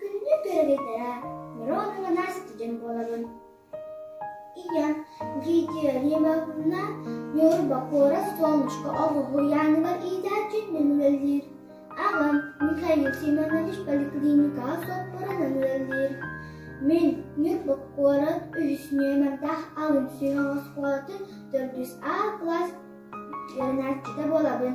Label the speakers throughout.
Speaker 1: Күннүк төрүөтэ Миронова Настя дьон буолабын. Ийэ Гидия Римовна Ньурба куорат Солнышко оҕуһу яныгар иитээччин нөмүлэлиир. Аҕам Михаил Семенович поликлиникаҕа соппорунан үлэлиир. Мин Ньурба куорат үһүсүнүө мөлтөх алын сүһүөх оскуолатын төрдүс А класс үөрэнээччитэ буолабын.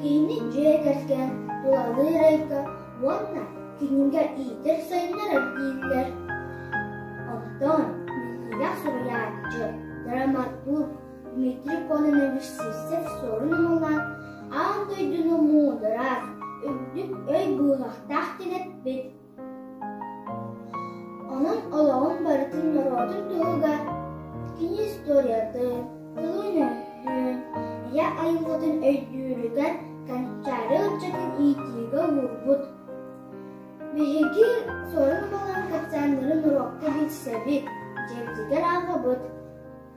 Speaker 1: Кини дьиэ кэргэн тулалыыр эйгэ уонна кинигэ иитэр сайыннарар дииллэр. Онтон минньигэс суруйааччы, драматург Дмитрий Кононович Сивцев суорун ылан аан дойдуну муударар, үрдүк өй быыһахтаах тэнэппит Онон олоҕун барытын норуотун туһугар кини историятын, тылын өйдүүр, ийэ айылҕатын өйдүүрүгэр Канчаары ыччатын иитиигэ уурбут. Биһиги Сорун Балан капсааннарын уруокка билсэбит, дьиэбитигэр ааҕабыт.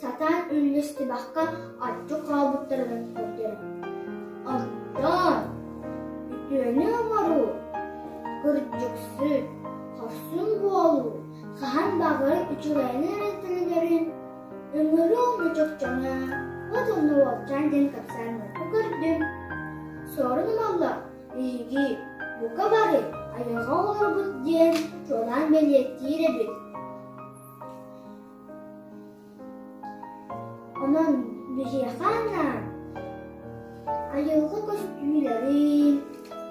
Speaker 1: Сатаан үннэстибэххэ аччык хаалбыттарыгар көрдөрө. Оттон үтүөнү оҥоруу, кырдьыксыт, хорсун буолуу хаһан баҕар үчүгэйин эрэлтэнэлэрин ыҥырыы омук чопчуна бу тылны уолчаан диэн капсааннарга көрдүм. Сорунумаллар биһиги бука бары айылҕа оҕолорбут диэн чуолаан бэлиэтиир эбит Онон биһиэхэ анаан айылҕа көстүүлэрин,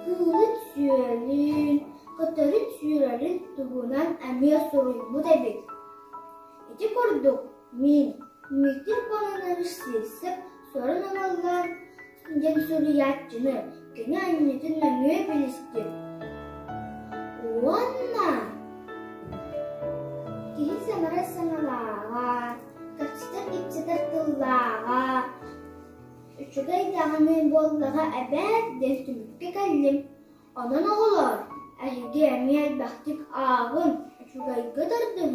Speaker 1: кыылын-сүөлүн, көтөрүн-сүрэрин туһунан эмиэ суруйбут эбит. Ити курдук мин Дмитрий Кононович Сивцев сорун ылыллан диэн суруйааччыны кини анньытын нөҥүө билистим уонна киһи саҥарар саҥалааҕа кырсыттар ипсэтэр тыллааҕа үчүгэй даҕаны буоллаҕа эбээт диэн түмүккэ кэллим онон оҕолор эһиги эмиэ элбэхтик ааҕын үчүгэйгэ тардыһын